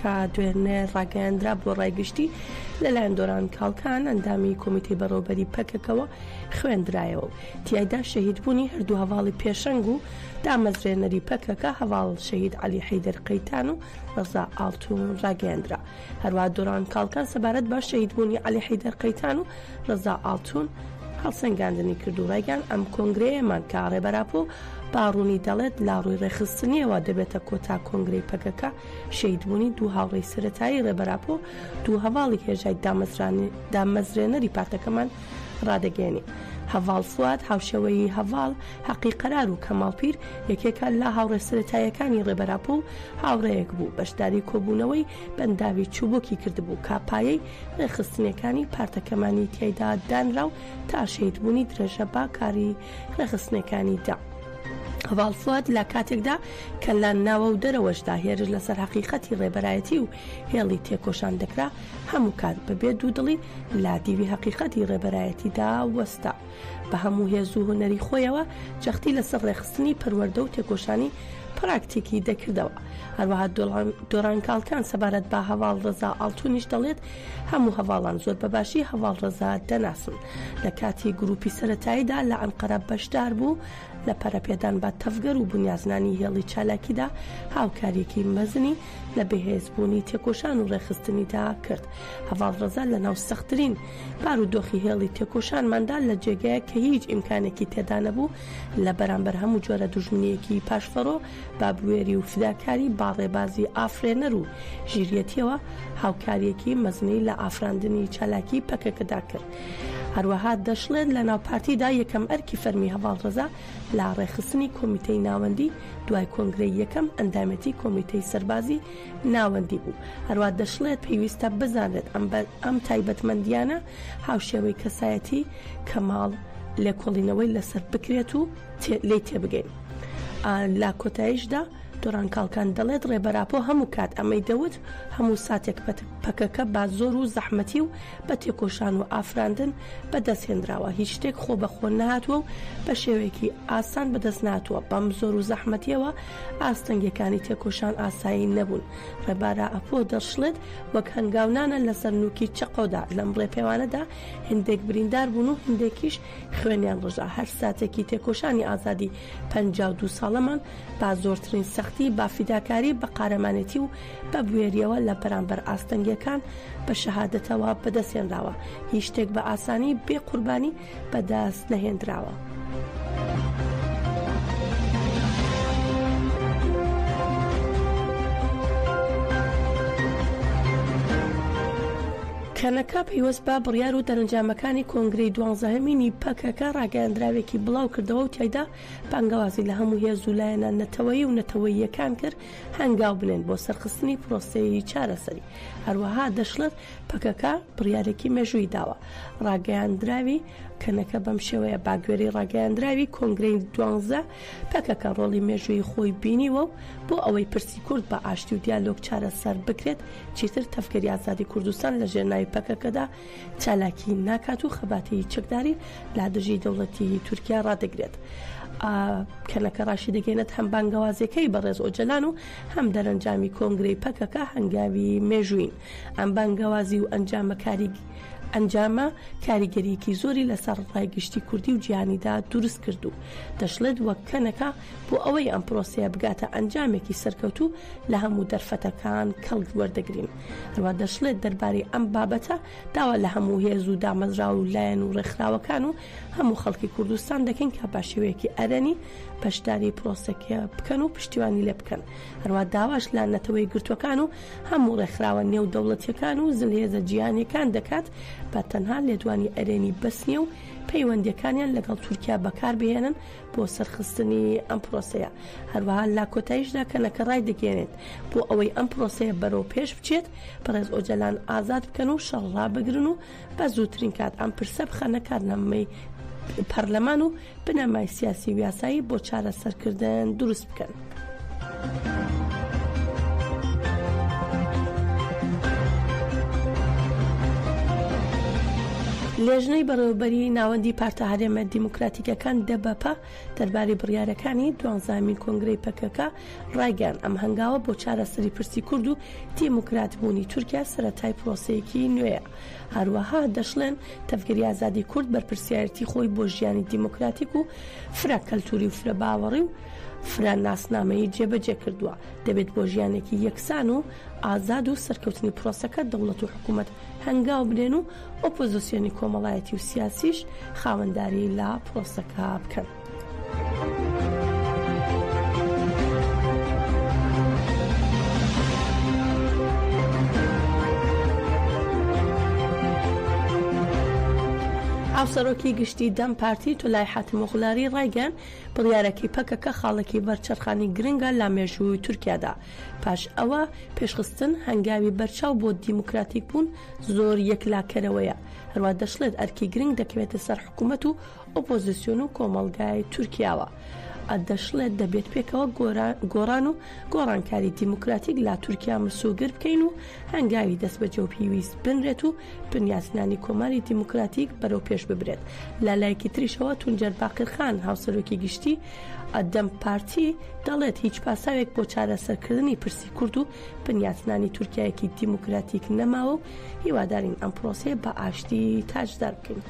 کە دوێنێ ڕاگەیاندرا بۆ ڕای گشتی، لەلایەن دۆران کاڵکان، ئەندامی کۆمیتەی بەڕێوەبەری پەکەکەوە خوێندرایەوە و تیایدا شەهیدبوونی هەردوو هەڤاڵی پێشەنگ و دامەزرێنەری پەکەکە، هەڤاڵ شەهید عەلی حەیدەر قەیتان و ڕەزا ئاڵتوون ڕاگەیاندرا. هەروەها دۆران کاڵکان سەبارەت بە شەهیدبوونی عەلی حەیدەر قەیتان و ڕەزا ئاڵتوون هەڵسەنگاندنی کرد و ڕایگەیاند، ئەم کۆنگرەیەمان کە ڕێبەر ئاپۆ بە ڕوونی دەڵێت لە ڕووی ڕێکخستنییەوە دەبێتە کۆتا کۆنگرەی پەکەکە، شەهیدبوونی دوو هاوڕێی سەرەتایی ڕێبەر ئاپۆ دوو هەڤاڵی هێژای دامەزرێنەری پارتەکەمان ڕادەگەیەنین. هەڤاڵ فواد هاوشێوەی هەڤاڵ حەقی قەرار و کەماڵ پیر یەکێکە لە هاوڕێ سەرەتاییەکانی ڕێبەر ئاپۆ و هاوڕێیەک بوو بەشداری کۆبوونەوەی بەنداوی چووبکی کردبوو کە پایەی ڕێکخستنیەکانی پارتەکەمانی تیایدا دانرا و تا شەهیدبوونی درێژە بە کاری ڕێکخستنەکانی دا. هەڤاڵ فواد لە کاتێکدا کە لە ناوە و دەرەوەشدا هێرش لەسەر هەقیقەتی ڕێبەرایەتی و هێڵی تێکۆشان دەکرا، هەموو کات بە بێ دوودڵی لە دیوی هەقیقەتی ڕێبەرایەتیدا وەستا. بە هەموو هێز و هونەری خۆیەوە جەختی لەسەر ڕێکخستنی پەروەردە و تێکۆشانی پراکتیکی دەکردەوە. هەروەها دۆران کاڵکان سەبارەت بە هەڤاڵ ڕەزا ئاڵتونیش دەڵێت، هەموو هەڤاڵان زۆر بە باشی هەڤاڵ ڕەزا دەناسن. لە کاتی گرووپی سەرەتاییدا لە ئەنقەرە بەشدار بوو، لە پەرەپێدان بە تەڤگەر و بنیازنانی هێڵی چالاکیدا هاوکارییەکی مەزنی لە بەهێزبوونی تێکۆشان و ڕێکخستنیدا کرد. هەڤاڵ ڕەزا لەناو سەختترین بارودۆخی هێڵی تێکۆشانماندا لە جێگەیەک کە هیچ ئیمکانێکی تێدا نەبوو لە بەرامبەر هەموو جۆرە دوژمنییەکی پاشفەرۆ بە بوێری و فیداکاری با ڕێبازی ئافرێنەر و ژیریەتیەوە هاوکاریەکی مەزنی لە ئافراندنی چالاکی پەکەکەدا کرد هەروەها دەشڵێت لە ناو پارتیدا یەکەم ئەرکی فەرمی هەڤاڵ ڕەزا لە ڕێخستنی کۆمیتەی ناوەندی دوای کۆنگرەی یەکەم ئەندامەتی کۆمیتەی سەربازی ناوەندی بوو هەروە دەشڵێت پێویستە بزانرێت ئەم ئەم تایبەتمەندیانە هاوشێوەی کەسایەتی کەماڵ لێکۆڵینەوەی لەسەر بکرێت و لێی تێبگەین. لە کۆتایشدا دوران کاڵکان دەڵێت، ڕێبەر ئاپۆ هەموو کات ئەمەی دەوت، هەموو ساتێک پەکەکە بە زۆر و زەحمەتی و بە تێکۆشان و ئافراندن بەدەست هێنراوە، هیچ شتێک خۆ بە خۆ نەهاتووە و بە شێوەیەکی ئاسان بەدەست نەهاتووە، بەم زۆر و زەحمەتیەوە ئاستەنگیەکانی تێکۆشان ئاسایی نەبوون. ڕێبارا ئاپۆ دەشڵێت، وەک هەنگاو نانە لەسەر نوکی چەقۆدا، لەم ڕێپێوانەدا هێندێک بریندار بوون و هێندێکیش خوێنیان ڕژا، هەر ساتێکی تێکۆشانی ئازادی پەنجا و دوو ساڵەمان بە زۆرترین سەختی، بە فیداکاری، بە قارەمانێتی و بە بوێرییەوە لە بەرامبەر ئاستەنگییەکان بە شەهادەتەوە بەدەستهێنراوە، هیچ شتێک بە ئاسانی بێ قوربانی بەدەست نەهێندراوە. کەنەکە پەیوەست بە بڕیار و دەرەنجامەکانی کۆنگرەی دوانزەهەمینی پەکەکە ڕاگەیاندراوێکی بڵاو کردەوە و تیایدا بانگەوازی لە هەموو هێز و لایەنە نەتەوەیی و نەتەوەییەکان کرد هەنگاو بنێن بۆ سەرخستنی پرۆسەی چارەسەری هەروەها دەشڵێت پەکەکە بڕیارێکی مێژووی داوە ڕاگەیاندراوی کەنەکە بەم شێوەیە باگوێرەی ڕاگەیاندراوی کۆنگرەی دوانزە پەکەکە ڕۆڵی مێژوویی خۆی بینیوە و بۆ ئەوەی پرسی کورد بە ئاشتی و دیالۆگ چارەسەر بکرێت، چیتر تەڤگەری ئازادی کوردستان لە ژێر ناوی پەکەکەدا چالاکی ناکات و خەباتی چەکداری لە دژی دەوڵەتی تورکیا ڕادەگرێت. کەنەکە ڕاشیدەگەیەنێت هەم بانگەوازەکەی بەڕێز ئۆجەلان و هەم دەرەنجامی کۆنگرەی پەکەکە هەنگاوی مێژوویین. ئەم بانگەوازی و ئەنجامە کاریگەرییەکی زۆری لەسەر ڕای گشتی کوردی و جیهانیدا دروست کرد و دەشڵێت وەک کەنەکە بۆ ئەوەی ئەم پرۆسەیە بگاتە ئەنجامێکی سەرکەوتوو لە هەموو دەرفەتەکان کەڵک وەردەگرین. هەروە دەشڵێت دەربارەی ئەم بابەتە داوا لە هەموو هێز و دامەزراوە و لایەن و ڕێکخراوەکان و هەموو خەڵکی کوردستان دەکەین کە بە شێوەیەکی ئەرێنی بەشداری پرۆسەکە بکەن و پشتیوانی لێ بکەن. هەروە داواش لە نەتەوەیەکگرتووەکان و هەموو ڕێکخراوە نێودەوڵەتیەکان و زلهێزە جیهانیەکان دەکات بە تەنها لێدوانی ئەرێنی بەس نیە و پەیوەندیەکانیان لەگەڵ تورکیا بەکار بهێنن بۆ سەرخستنی ئەم پرۆسەیە هەروەها لە کۆتایشدا کەنەکە ڕایدەگەیەنێت بۆ ئەوەی ئەم پرۆسەیە بەرەو پێش بچێت بەڕێز ئۆجەلان ئازاد بکەن و شەڕ ڕابگرن و بە زووترین کات ئەم پرسە بخەنە کارنامەی پەرلەمان و بنەمای سیاسی و یاسایی بۆ چارەسەرکردن دروست بکەن. لیژنەی بەڕێوەبەری ناوەندی پارتە هەرێمە دیموکراتیکەکان دەبەپە دەربارەی بڕیارەکانی دوانزامین کۆنگرەی پەکەکە ڕایگەیاند ئەم هەنگاوە بۆ چارەسەری پرسی کورد و دیموکراتبوونی تورکیا سەرەتای پرۆسەیەکی نوێیە. هەروەها دەشڵێن تەڤگەری ئازادی کورد بەرپرسیارێتی خۆی بۆ ژیانی دیموکراتیک و فرە کەلتوری و فرە باوەڕی و فرە ناسنامەیی جێبەجێ کردووە، دەبێت بۆ ژیانێکی یەکسان و ئازاد و سەرکەوتنی پرۆسەکە دەوڵەت و حکومەت هەنگاو بنێن و ئۆپۆزسیۆنی کۆمەڵایەتی و سیاسیش خاوەنداری لە پرۆسەکە بکەن. هاوسەرۆکی گشتی دەم پارتی تولای حاتمۆغلاری ڕایگەن بڕیارەکەی پەکەکە خاڵێکی بەرچەرخانی گرنگە لە مێژووی تورکیادا پاش ئەوە پێشخستن هەنگاوی بەرچاو بۆ دیموکراتیک بوون زۆر یەکلاکەرەوەیە هەروە دەشڵێت ئەرکی گرنگ دەکەوێتە سەر حکوومەت و ئۆپۆزسیۆن و کۆمەڵگای تورکیاوە دەشڵێت دەبێت پێکەوە گۆڕان و گۆڕانکاری دیموکراتیک لا تورکیا مسۆگر بکەین و هەنگاوی دەست بە جەو پیویست بنرێت و بنیاتنانی کۆماری دیموکراتیک بەرەو پێش ببرێت لە لایەکی تریشەوە تونجەر باقرخان هاوسەرۆکی گشتی ئەدەم پارتی دەڵێت هیچ پاساوێک بۆ چارەسەرکردنی پرسی کورد و بنیاتنانی تورکیایەکی دیموکراتیک نەماوە و هیوادارین ئەم پرۆسەیە بە ئاشتی تاجدار بکەین.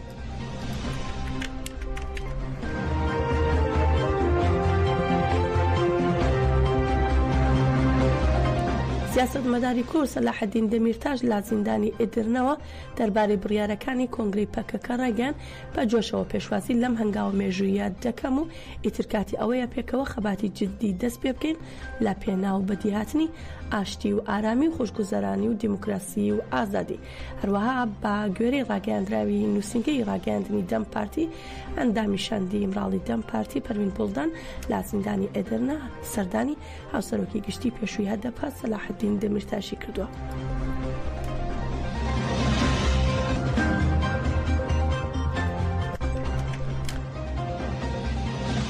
سیاسەتمەداری کورد سەلاحەدین دەمیرتاش لە زیندانی ئیدرنەوە دەربارەی بڕیارەکانی کۆنگری پەکەکە ڕایگەیان بە جۆشەوە پێشوازی لەم هەنگاوە مێژوویە دەکەم و ئیتر کاتی ئەوەیە پێکەوە خەباتی جددی دەست پێ بکەین لە پێناو بەدیهاتنی ئاشتی و ئارامی و خۆشگوزەرانی و دیموکراسی و ئازادی. هەروەها بە گوێرەی ڕاگەیاندراوی نووسینگەی ڕاگەیاندنی دەم پارتی، ئەندامی شاندی ئیمراڵی دەم پارتی پەروین بوڵدان لە زیندانی ئێدرنە سەردانی هاوسەرۆکی گشتی پێشووی هەدەپە سەلاحەدین دەمیرتاشی کردووە.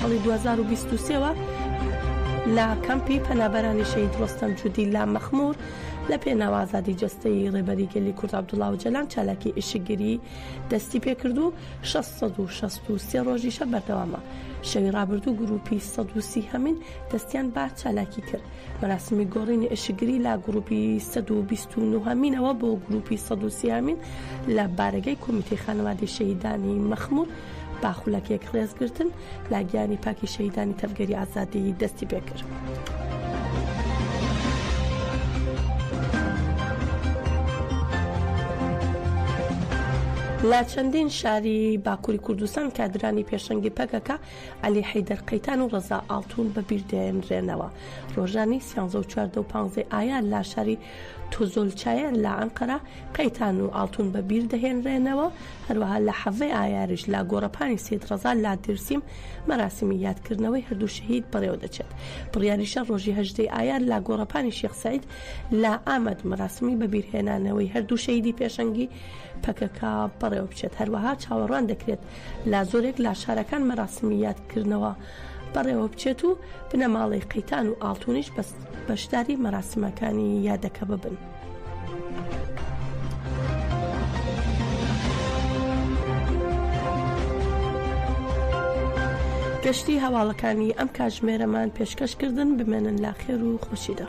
ساڵی دوو هەزار و بیست و سێ وە لە کەمپی پەنابەرانی شەهید ڕۆستەم جودی لە مەخمور لە پێناو ئازادی جەستەی ڕێبەری گەلی کورد عەبدوڵا ئۆجەلان چالاکی ئیشکگری دەستی پێکرد و 663 ڕۆژیشە بەردەوامە شەوی ڕابردوو گروپی 130 هەمین دەستیان با چالاکی کرد مەراسمی گۆڕینی ئیشکگری لە گروپی 129 هەمینەوە بۆ گروپی 130 هەمین لە بارەگەی کۆمیتەی خانەوادەی شەهیدانی مەخمور با خولەک یەک ڕێز گرتن لا گیانی پاکی شەهیدانی تەڤگەری ئازادیی دەستی پێ کرد. لە چەندین شاری باکووری کوردستان کادرانی پێشەنگی پەکەکە علی حیدەر قەیتان و ڕەزا ئاڵتون بە بیردێنرێنەوە ڕۆژانی سیانزە و چواردە و پانزەی ئایا لا شاری توزولچایەر لە ئەنقەرە، قەیتان و ئاڵتون بە بیر دەهێنرێنەوە، هەروەها لە حەڤەی ئایاریش لە گۆڕەپانی سەید ڕەزا لە دێرسیم مەراسیمی یادکردنەوەی هەردوو شەهید بەڕێوەدەچێت. بڕیاریشە ڕۆژی هەژدەی ئایار لە گۆڕەپانی شێخ سەعید لە ئامەد مەراسیمی بەبیرهێنانەوەی هەردوو شەهیدی پێشەنگی پەکەکە بەڕێوەبچێت. هەروەها چاوەڕوان دەکرێت لە زۆرێک لە شارەکان مەراسیمی یادکردنەوە بەڕێوەبچێت و بنەماڵەی قەیتان و ئاڵتونیش بەشداری مەراسمەکانی یادەکە ببن. گەشتی هەواڵەکانی ئەم کاتژمێرەمان پێشکەشکردن بمێنن لاخێر و خۆشیدا.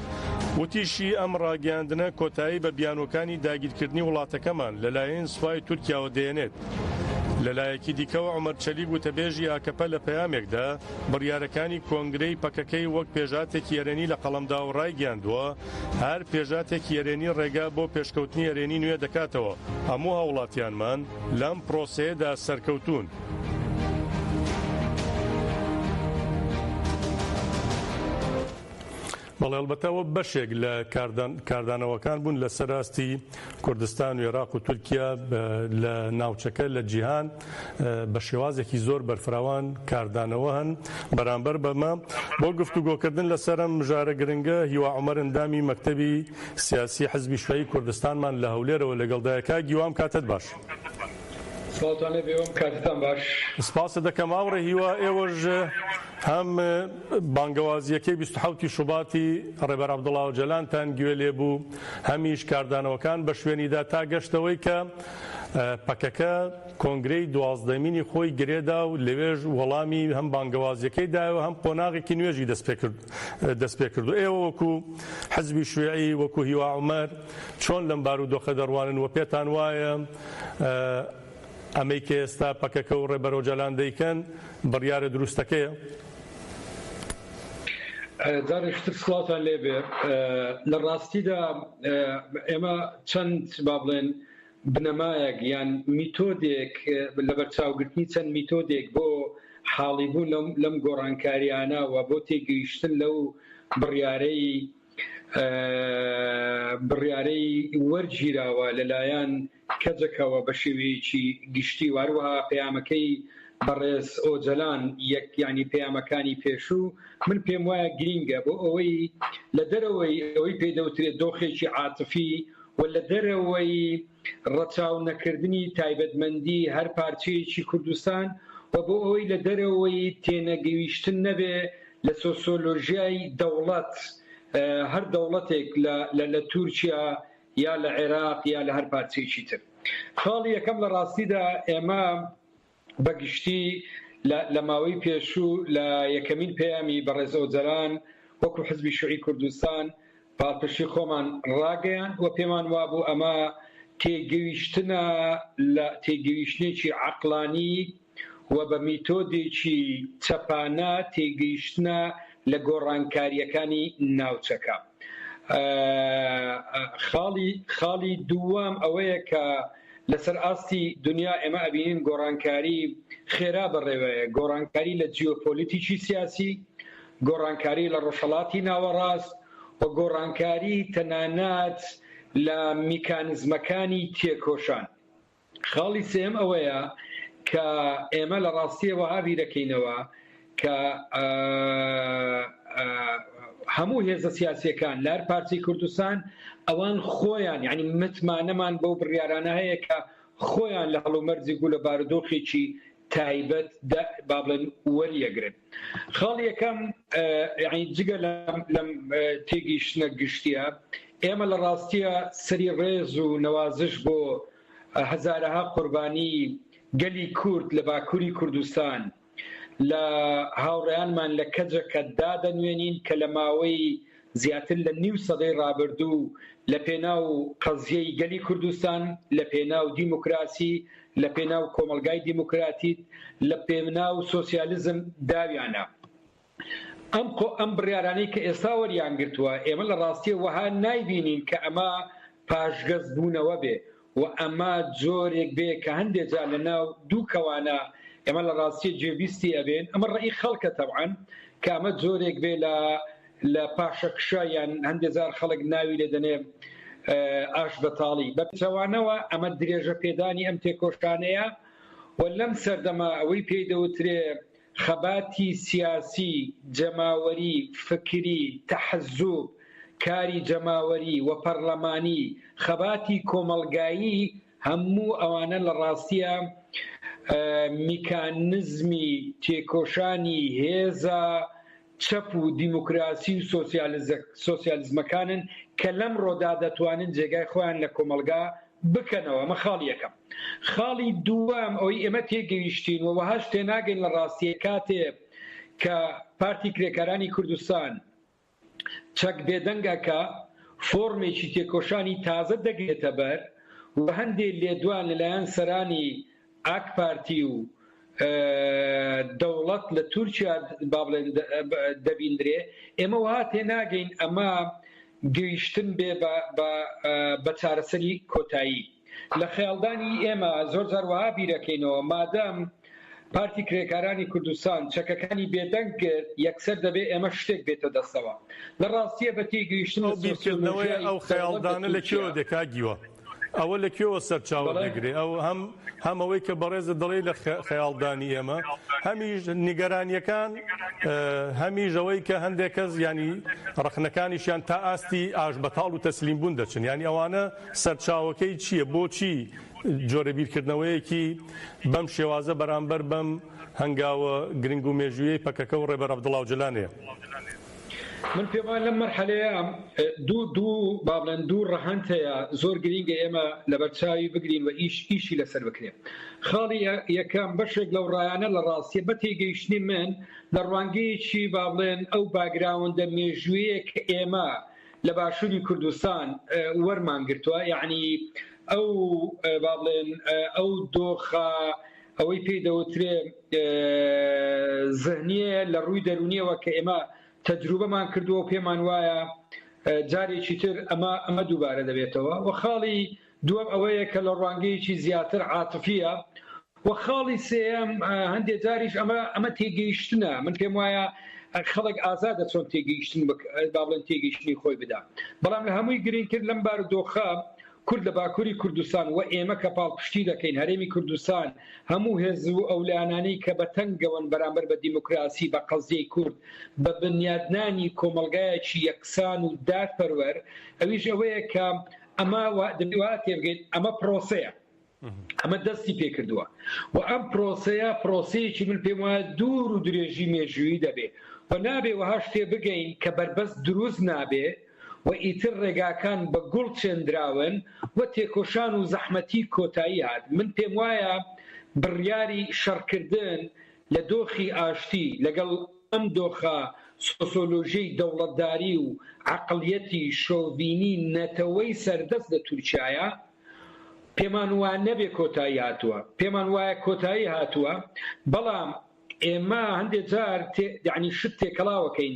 وتیشی، ئەم ڕاگەیاندنە کۆتایی بە بیانووەکانی داگیرکردنی وڵاتەکەمان لەلایەن سوپای تورکیاوە دێنێت. لەلایەکی دیکەوە، عومەر چەلیک وتەبێژی ئاکەپە لە پەیامێکدا بڕیارەکانی کۆنگرەی پەکەکەی وەک پێشهاتێکی ئەرێنی لە قەڵەمدا و ڕایگەیاندووە، هەر پێشهاتێکی ئەرێنی ڕێگا بۆ پێشکەوتنی ئەرێنی نوێ دەکاتەوە. هەموو هاوڵاتیانمان لەم پرۆسەیەدا سەرکەوتوون. بەڵێ ئەڵبەتە ئەوە بەشێک لە کاردانەوەکان بوون لەسەر ئاستی کوردستان و عێراق و تورکیا لە ناوچەکە لە جیهان بە شێوازێکی زۆر بەرفراوان کاردانەوە هەن بەرامبەر بەمە بۆ گفتوگۆکردن لەسەرم مژارە گرنگە هیوا عمر ئەندامی مەکتەبی سیاسی حزبی شوی کوردستانمان لە هەولێرەوە لەگەڵدایکا گیوام کاتت باش. سڵاوتان لێ بێ وەم کاتتان باش. سپاست دەکەم هاوڕێ هیوا ئێوەش هەم بانگەوازییەکەی بیست و حەوت ی شوباتی ڕێبەر عەبدوڵا ئۆجەلانتان گوێ لێ بوو هەمیش کاردانەوەکان بە شوێنی دا تا گەشت ئەوەی کە پەکەکە کۆنگرەی دوازدەمینی خۆی گرێ دا و لەوێش وەڵامی هەم بانگەوازییەکەی دایەوە هەم قۆناغێکی نوێژی دەست پێ کرد دەست پێ کرد و ئێوە وەکوو حزبی شویعی وەکوو هیوا عومەر چۆن لەم بارودۆخە دەڕوانن و پێتان وایە ئەمەی کە ئێستا پەکەکە و ڕێبەر ئۆجالان دەیکەن بڕیارە دروستەکەیە؟ جارێکی تر سڵاوتان لێ بێ. لە ڕاستیدا ئێمە چەند با بڵێن بنەمایەک یان میتۆدێک لەبەرچاوگرتنی چەند میتۆدێک بۆ حاڵیبوون لەم گۆڕانکارییانە و بۆ تێگەیشتن لەو بڕیارەی بڕیارەی وەرگیراوە لەلایەن کەجەکەوە بە شێوەیەکی گشتی و هەروەها پەیامەکەی بەڕێز ئۆجەلان یەک یانی پەیامەکانی پێشوو من پێم وایە گرینگە بۆ ئەوەی لە دەرەوەی ئەوەی پێ دەوترێت دۆخێکی عاتفی و لە دەرەوەی ڕەچاو نەکردنی تایبەتمەندی هەر پارچەیەکی کوردستان و بۆ ئەوەی لە دەرەوەی تێنەگەیشتن نەبێ لە سۆسۆلۆژیای دەوڵەت هەر دەوڵەتێک لە لە تورکیا یا لە عێراق یا لە هەر پارچەیەکی تر خاڵی یەکەم لە ڕاستیدا ئێمە بە گشتی لە ماوەی پێشوو لە یەکەمین پەیامی بەڕێز ئۆجەلان وەکو حزبی شوعی کوردستان پاڵپشتی خۆمان ڕاگەیان و پێمان وابوو ئەمە تێگەیشتنە لە تێگەیشتنێکی عەقلانی و بە میتۆدێکی چەپانە تێگەیشتنە لە گۆڕانکارییەکانی ناوچەکە. خاڵی خاڵی دووەم ئەوەیە کە لەسەر ئاستی دنیا ئێمە ئەبینین گۆڕانکاری خێرا بەڕێوەیە، گۆڕانکاری لە جیۆپۆلیتیکی سیاسی، گۆڕانکاری لە ڕۆژهەڵاتی ناوەڕاست و گۆڕانکاری تەنانەت لە میکانزمەکانی تێکۆشان. خاڵی سێیەم ئەوەیە کە ئێمە لە ڕاستییە وەها بیرەکەینەوە کە هەموو هێزە سیاسیەکان لار پارتی کوردستان ئەوان خۆیان یعنی متمانەمان بەو بڕیارانە هەیە کە خۆیان لە هەڵومەرجی گولە بارودۆخێکی تایبەت با بڵێن وەریەگرن خاڵی یەکەم جگە لەم تێگەیشتنە گشتیە ئێمە لە ڕاستیە سەری ڕێز و نەوازش بۆ هەزارەها قوربانی گەلی کورد لە باکووری کوردستان لە هاوڕێیانمان لە کەجەکە دادەنوێنین کە لە ماوەی زیاتر لە نیو سەدەی ڕابردوو لە پێناو قەزیەی گەلی کوردستان، لە پێناو دیموکراسی، لە پێناو کۆمەڵگای دیموکراتیت، لە پێناو سۆسیالزم داویانە. ئەم خۆ ئەم بڕیارانەی کە ئێستا وەریانگرتووە، ئێمە لە ڕاستیە وەها نایبینین کە ئەمە پاشگەز بوونەوە بێ و ئەمە جۆرێک بێ کە هەندێ جار لە ناو دوو کەوانە ئێمە لە ڕاستیە گوێبیستی ئەبێن ئەمە ڕەئی خەڵکە تەبعەن کە ئەمە جۆرێک بێ لە لە پاشەکشە یان هەندێ جار خەڵک ناوی لێ دەنێ ئاش بەتاڵی بە پچەوانەوە ئەمە درێژە پێدانی ئەم تێکۆشانەیە و لەم سەردەما ئەوەی پێی دەوترێ خەباتی سیاسی، جەماوەری، فکری، تەحزوب، کاری جەماوەری و پەڕلەمانی، خەباتی کۆمەڵگایی هەموو ئەوانە لە ڕاستیا میکانزمی تێکۆشانی هێزە چەپ و دیموکراسی و سۆسیالیزمەکانن کە لەمڕۆدا دەتوانن جێگای خۆیان لە کۆمەڵگا بکەنەوە. ئەمە خاڵی یەکەم. خاڵی دووەم ئەوەی ئێمە تێگەیشتین و وەهاش تێناگەین لە ڕاستیە کاتێ کە پارتی کرێکارانی کوردستان چەک بێدەنگ ئەکا فۆرمێکی تێکۆشانی تازە دەگرێتە بەر و هەندێ لێدوان لەلایەن سەرانی ئاک پارتی و دەوڵەت لە تورکیا با بڵێن دەبیندرێ ئێمە وها تێناگەین ئەمە گەیشتن بێ بە چارەسەری کۆتایی لە خەیاڵدانی ئێمە زۆر جار وەها بیرەکەینەوە مادەم پارتی کرێکارانی کوردستان چەکەکانی بێدەنگ کرد یەکسەر دەبێ ئێمە شتێک بێتە دەستەوە لە ڕاستییە بە تێگەیشتن لە سۆسیۆلۆژیای دەوڵەت لە تورکیا. سەرچاوەکەی چییە؟ بۆچی جۆرە بیرکردنەوەیەکی بەم شێوازە بەرامبەر بەم هەنگاوە گرنگ و مێژوویەی پەکەکە و ڕێبەر عەبدوڵا ئۆجەلان هەیە؟ من پێم وایە لەم مەرحەلەیە دوو دوو با بڵێن دوو ڕەهەند هەیە زۆر گرینگە ئێمە لەبەر چاوی بگرین و ئیش ئیشی لەسەر بکرێ. خاڵی یەکەم بەشێک لەو ڕایانە لە ڕاستیە بە تێگەیشتنی من لە ڕوانگەیەکی با بڵێن ئەو باگراوندە مێژوویەک ئێمە لە باشوری کوردستان وەرمان گرتوە یەعنی ئەو با بڵێن ئەو دۆخە ئەوەی پێی دەوترێ زهنیەیە لە ڕووی دەرونیەوە کە ئێمە تەجروبەمان کردووە و پێمان وایە جارێکی تر ئەمە ئەمە دووبارە دەبێتەوە و خاڵی دووەم ئەوەیە کە لە ڕوانگەیەکی زیاتر عاتفییە. وە خاڵی سێیەم هەندێک جاریش ئەمە ئەمە تێگەیشتنە. من پێم وایە خەڵک ئازادە چۆن تێگەیشتن بک با بڵێن تێگەیشتنی خۆی بدا. بەڵام لە هەمووی گرینگتر لەم بارودۆخە کورد لە باکووری کوردستان وە ئێمە کە پاڵپشتی دەکەین هەرێمی کوردستان هەموو هێز و ئەو لایەنانەی کە بە تەنگەوەن بەرامبەر بە دیموکراسی بە قەزیەی کورد بە بنیادنانی کۆمەڵگایەکی یەکسان و دادپەروەر ئەویش ئەوەیە کە ئەمە دەبی وا تێبگەیت ئەمە پرۆسەیە ئەمە دەستی پێکردووە و ئەم پرۆسەیە پرۆسەیەکی من پێم وایە دوور و درێژی مێژووی دەبێ و نابێ وەهاش تێ بگەین کە بەربەست دروست نابێ و ئیتر ڕێگاکان بە گوڵ چێندراون و تێکۆشان و زەحمەتی کۆتایی هات من پێم وایە بڕیاری شەڕکردن لە دۆخی ئاشتی لەگەڵ ئەم دۆخە سۆسۆلۆژیەی دەوڵەتداری و عەقڵیەتی شۆڤینی نەتەوەی سەردەست لە تورکیایە پێمان وا نەبێ کۆتایی هاتووە پێمان وایە کۆتایی هاتووە بەڵام ئێمە هەندێ جار یعنی شت تێکەڵاوەکەین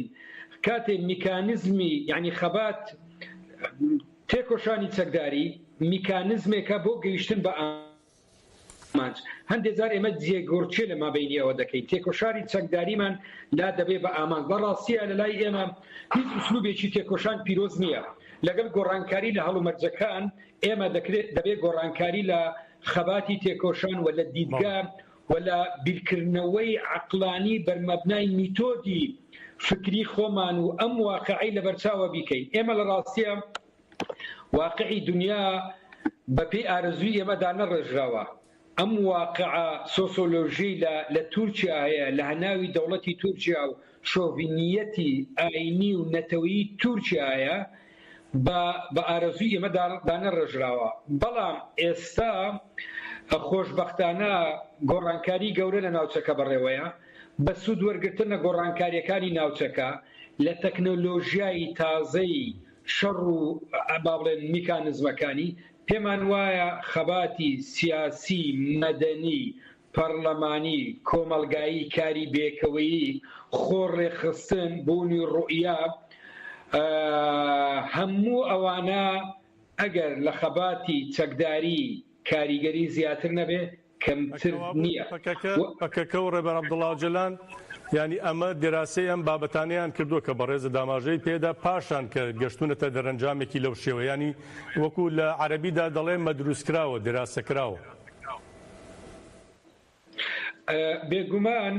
کاتێ میکانزمی یعنی خەبات تێکۆشانی چەکداری میکانزمێکە بۆ گەیشتن بە ئا ئامانج، هەندێ جار ئێمە جێگۆڕکێ لە مابەینی ئەوە دەکەین تێکۆشانی چەکداریمان لا دەبێ بە ئامانج، بە ڕاستییە لە لای ئێمە هیچ ئوسلوبێکی تێکۆشان پیرۆز نییە، لەگەڵ گۆڕانکاری لە هەڵومەرجەکان ئێمە دەکرێ دەبێ گۆڕانکاری لە خەباتی تێکۆشان و لە دیدگا و لە بیرکردنەوەی عەقلانی بەر مەبنای میتۆدی فکری خۆمان و ئەم واقعەی لەبەرچاوە بیکەین، ئێمە لە ڕاستییە، واقعی دونیا بە پێی ئارەزووی ئێمە دانەڕێژراوە. ئەم واقعە سۆسۆلۆژییلە لە تورکیا هەیە، لە هەناوی دەوڵەتی تورکیا و شۆڤینییەتی ئایینی و نەتەوەیی تورکیا هەیە، بە بە ئارەزووی ئێمە دانەڕێژراوە. بەڵام ئێستا خۆشبەختانە گۆڕانکاریی گەورە لە ناوچەکە بەڕێوەیە، بە سوود وەرگرتن لە گۆڕانکارییەکانی ناوچەکە، لە تەکنۆلۆژیای تازەی شەڕ و با بڵێن میکانزمەکانی، پێمان وایە خەباتی سیاسی، مەدەنی، پەڕلەمانی، کۆمەڵگایی، کاری بێکەوەیی، خۆ ڕێکخستن، بوونی ڕوئیا، هەموو ئەوانە ئەگەر لە خەباتی چەکداری کاریگەری زیاتر نەبێ، کەمتر نیە و. پەکەکە و ڕێبەر عەبدوڵا ئۆجەلان یانی ئەمە دێراسەی ئەم بابەتانەیان کردووە کە بەڕێزت ئاماژەی پێدا پاشان کە گەشتوونەتە دەرەنجامێکی لەو شێوە یانی وەکوو لە عەرەبیدا دەڵێ مەدرووس کراوە دێراسە کراوە. بێگومان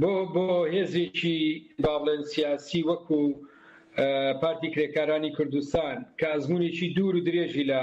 بۆ بۆ هێزێکی با بڵێن سیاسی وەکوو پارتی کرێکارانی کوردستان کە ئەزموونێکی دوور و درێژی لە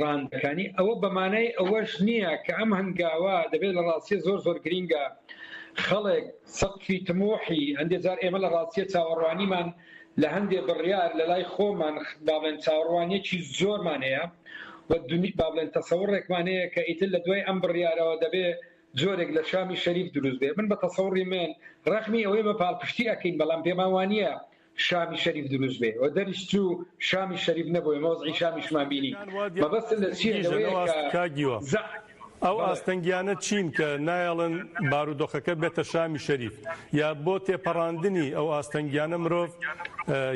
ڕانندەکانی، ئەوە بە مانای ئەوەش نییە کە ئەم هەنگاوە دەبێت لە ڕاستییە زۆر زۆر گرینگە خەڵک سەقفی تموحی هەندێ جار ئێمە لە ڕاستییە چاوەڕوانیمان لە هەندێ بڕیار لە لای خۆمان با بڵێن چاوەڕوانیەکی زۆرمان هەیە و با بڵێن تەسەوڕێکمان هەیە کە ئیتر لە دوای ئەم بڕیارەوە دەبێ جۆرێک لە شامی شەریف دروست بێ من بە تەسەوڕی من ڕەخنی ئەوەی بە پاڵپشتی ئەکەین بەڵام پێمان وانییە شامی شەریف دروست بێ و دەریش چوو شامی شەریف نەبوو ئێمە وەزعی شامیشمان بینی مەبەستم لە چیە لەوەیە کە کاک گیوە ئەو ئاستەنگیانە چین کە نایەڵن بارودۆخەکە بێتە شامی شەریف یا بۆ تێپەڕاندنی ئەو ئاستەنگیانە مرۆڤ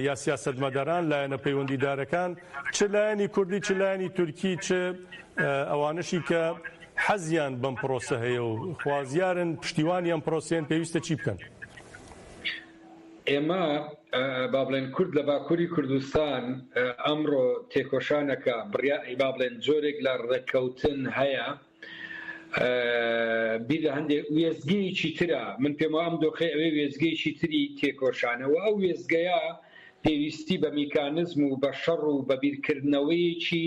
یا سیاسەتمەداران لایەنە پەیوەندیدارەکان چ لایەنی کوردی چ لایەنی تورکی چ ئەوانەشی کە حەزیان بەم پرۆسە هەیە و خوازیارن پشتیوانی ئەم پرۆسەیەن پێویستە چی بکەن؟ ئێمە با بڵێن کورد لە باکووری کوردستان ئەمڕۆ تێکۆشانەکە بڕیا با بڵێن جۆرێک لە ڕێککەوتن هەیە بیر لە هەندێک وێزگەیەکی ترە من پێم ئەم دۆخی ئەوێ وێزگەیەکی تری تێکۆشانەوە ئەو وێزگەیە پێویستی بە میکانزم و بە شەڕ و بە بیرکردنەوەیەکی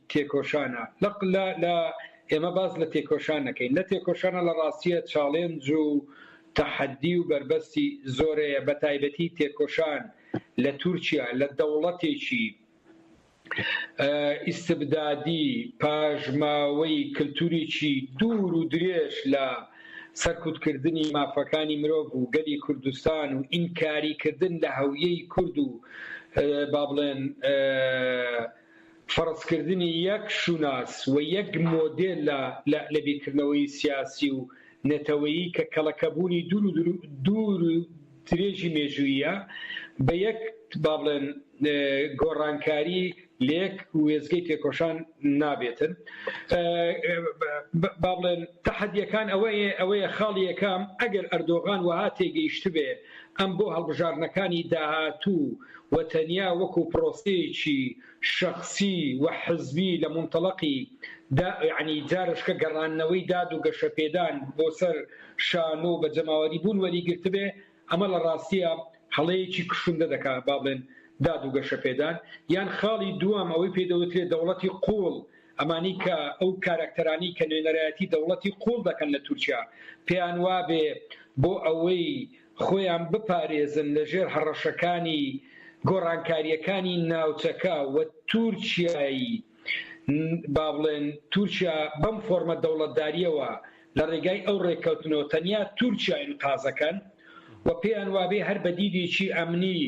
تێکۆشانە لە لە لە ئێمە باس لە تێکۆشان نەکەین لە تێکۆشانە لە ڕاستیە چاڵێنج و تەحەدی و بەربەستی زۆرەیە بە تایبەتی تێکۆشان لە تورکیا لە دەوڵەتێکی ئیستبدادی پاژماوەی کلتوریی دوور و درێژ لە سەرکوتکردنی مافەکانی مرۆڤ و گەلی کوردستان و ئینکاریکردن لە هەویەی کورد و با بڵێن فەرزکردنی یەک شوناس و یەک مۆدێل لە بیرکردنەوەی سیاسی و نەتەوەیی کە کەڵەکەبوونی دوور و درێژی مێژووییە بە یەک با بڵێن گۆڕانکاری لە یەک وێستگەی تێکۆشان نابێتن. با بڵێن تەحەدیەکان ئەوەیە، خاڵی یەکەم، ئەگەر ئەردۆغان وەها تێگەیشتبێ، ئەم بۆ هەڵبژاردنەکانی داهاتوو و تەنیا وەکو پرۆسەیەکی شەخسی و حزبی لە مونتەڵەقی دا یەعنی جارەشکە گەڕاندنەوەی داد و گەشەپێدان بۆ سەر شانۆ و بە جەماوەری بوون وەریگرتبێ ئەمە لە ڕاستییا هەڵەیەکی کوشندە دەکا با بڵێن داد و گەشەپێدان یان خاڵی دووەم ئەوەی پێی دەوترێ دەوڵەتی قووڵ ئەمانەی کە ئەو کاراکتەرانەی کە نوێنەرایەتی دەوڵەتی قووڵ دەکەن لە تورکیا پێیان وابێ بۆ ئەوەی خۆیان بپارێزن لە ژێر هەڕەشەکانی گۆڕانکارییەکانی ناوچەکە و تورکیایی با بڵێن تورکیا بەم فۆرمە دەوڵەتداریەوە لە ڕێگای ئەو ڕێککەوتنەوە تەنیا تورکیاین قازەکەن و پێیان وابێ هەر بە دیدێکی ئەمنی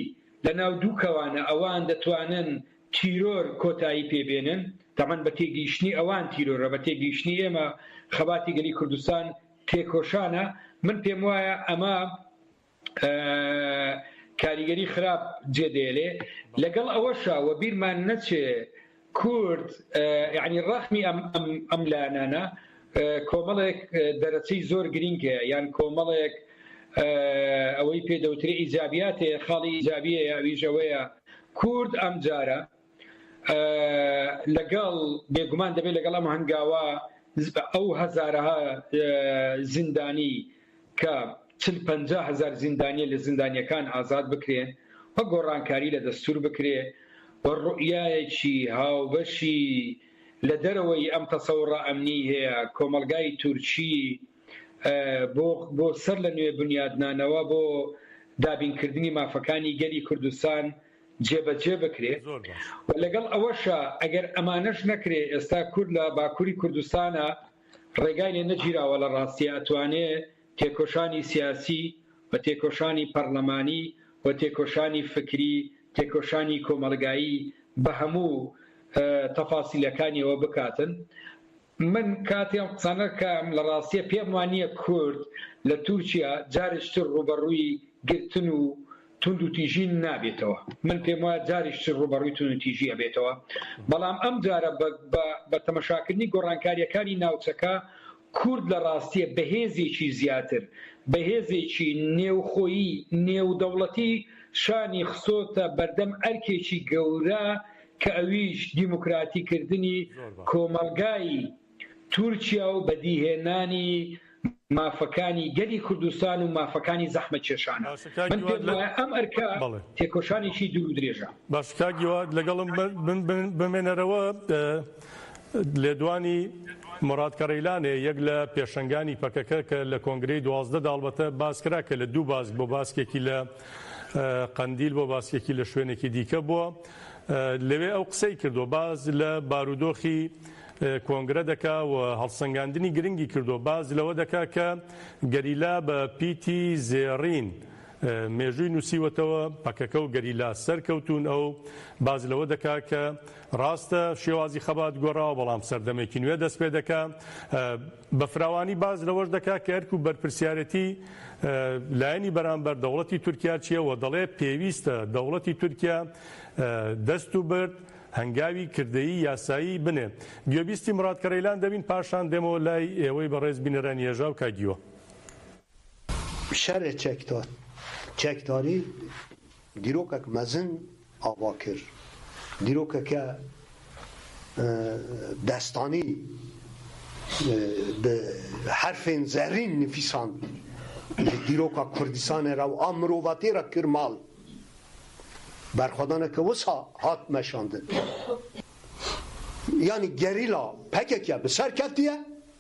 لە ناو دوو کەوانە ئەوان دەتوانن تیرۆر کۆتایی پێ بێنن، تەبعەن بە تێگەیشتنی ئەوان تیرۆرە، بە تێگەیشتنی ئێمە خەباتی گەلی کوردستان تێکۆشانە، من پێم وایە ئەمە کاریگەری خراپ جێ دێلێ، لەگەڵ ئەوەشا وە بیرمان نەچێ کورد یانی ڕەخنی ئەم ئەم ئەم لایەنانە کۆمەڵێک دەرەچەی زۆر گرینگ هەیە یان کۆمەڵێک ئەوەی پێ دەوترێ ئیجابیات هەیە خاڵی ئیجابیە یاویش ئەوەیە کورد ئەم جارە لەگەڵ بێگومان دەبێت لەگەڵ ئەم هەنگاوە ئەو هەزارەها زیندانی کە چل پ هزار زیندانیە لە زیندانیەکان ئازاد بکرێن و گۆڕانکاری لە دەستور بکرێ و ڕوئایەکی هاوبەشی لە دەرەوەی ئەم تەسەوڕە ئەمنیی هەیە، کۆمەڵگای تورکی بۆ بۆ سەر لە نوێ بنیادنانەوە بۆ دابینکردنی مافەکانی گەلی کوردستان جێبەجێ بکرێ و لەگەڵ ئەوەشا ئەگەر ئەمانەش نەکرێ ئێستا کورد لە باکووری کوردستانا ڕێگای لێ نەگیراوە لە ڕاستیا ئەتوانێ تێکۆشانی سیاسی و تێکۆشانی پەڕلەمانی و تێکۆشانی فکری تێکۆشانی کۆمەڵگایی بە هەموو تەفاسیلەکانیەوە بکاتن من کاتی ئەم قسانەکەم لە ڕاستیە پێم وا نیە کورد لە تورکیا جاریشتر ڕووبەڕووی گرتن و توند و تیژی نابێتەوە من پێم وایە جاریشتر ڕووبەڕووی توند و تیژی ئەبێتەوە بەڵام ئەم جارە بە بە تەمەشاکردنی گۆڕانکاریەکانی ناوچەکە کورد لە ڕاستیە بە هێزێکی زیاتر، بە هێزێکی نێوخۆیی، نێودەوڵەتی شانی خستۆتە بەردەم ئەرکێکی گەورە کە ئەویش دیموکراتی کردنی کۆمەڵگای تورکیا و بەدیهێنانی مافەکانی گەلی کوردستان و مافەکانی زەحمەتکێشانە. من پێم وایە ئەم ئەرکە تێکۆشانێکی دوور و درێژە. باشە کاک گیواد لەگەڵم بمێنەرەوە. لێدوانی، موراد کەڕیلانێ، یەک لە پێشەنگانی پەکەکە کە لە کۆنگرەی دوازدە دا هەڵبەتە باسکرا کە لە دوو باسک بۆ باسکێکی لە قەندیل بۆ باسکێکی لە شوێنێکی دیکە بووە لەوێ ئەو قسەی کردووە باز لە بارودۆخی کۆنگرە دەکا و هەڵسەنگاندنی گرنگی کردووە باز لەوە دەکا کە گەریلا بە پیتی زێڕین مێژووی نووسیوەتەوە، پەکەکە و گەریلا سەرکەوتوون، ئەو باس لەوە دەکا کە ڕاستە شێوازی خەبات گۆڕاوە، بەڵام سەردەمێکی نوێ دەست پێ دەکا. بە فراوانی باس لەوەش دەکا کە ئەرک و بەرپرسیارێتی لایەنی بەرامبەر، دەوڵەتی تورکیا چییە و دەڵێ پێویستە دەوڵەتی تورکیا دەست و برد، هەنگاوی کردەیی یاسایی بنێ. گوێبیستی مڕاد کەڕیلان دەبین پاشان دێمەوە لای ئێوەی بەڕێز بینەرانی هێژا و کاک گیوە. شەڕێ چەکداری دیرۆکەک مەزن ئاوا کرد، دیرۆکەکە دەستانی بە حەرفێن زەرین نڤیسان لە دیرۆکە کوردستانێ را و ئا مرۆڤاتێ را کرد ماڵ، بەرخۆدانەکە وسا هات مەشاندن یانی گەریلا پەکەکە بسەر کەفتیە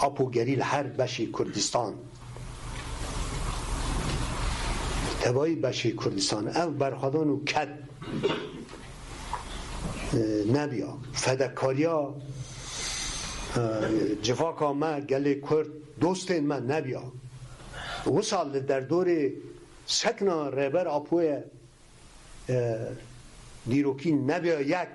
ئاپ و گەری لە هەر بەشی کوردستان. تەواوی بەشی کوردستان ئەو بەرخۆدان و کەد نەبیا فەدەکاریا جڤاکا مە گەلێ کورد دۆستێن مە نەبیا وسا لە دەردۆرێ سەکنا ڕێبەر ئاپۆیە دیرۆکی نەبیا یەک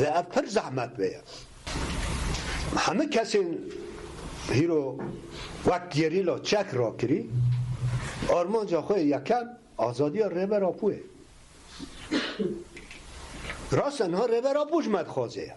ذا پر زەحمەت بێ هەمە کەسێن هیرۆ وەک گێریلا چەک ڕاکری ئارمانجا خۆی یەکەم ئازادیە ڕێبەر ئاپوێ ڕاستە نها ڕێبەر ئاپوش مەدخوازەیە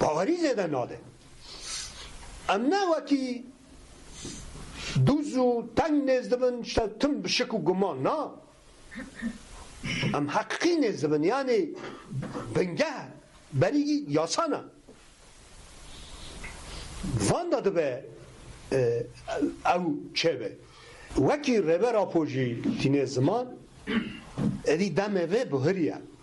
باوەری زێدە نادەن ئەم ناوەکی دوز و تەنگ نێز دبن شتە تم بشک و گومان نا ئەم حەققی نێز دبن یانێ بنگە بەریگی یاسانە واندا دبێ ئەو چێبێ وەکی ڕێبەر ئاپۆژی تینێ زمان ئەدی دەمێ بهریە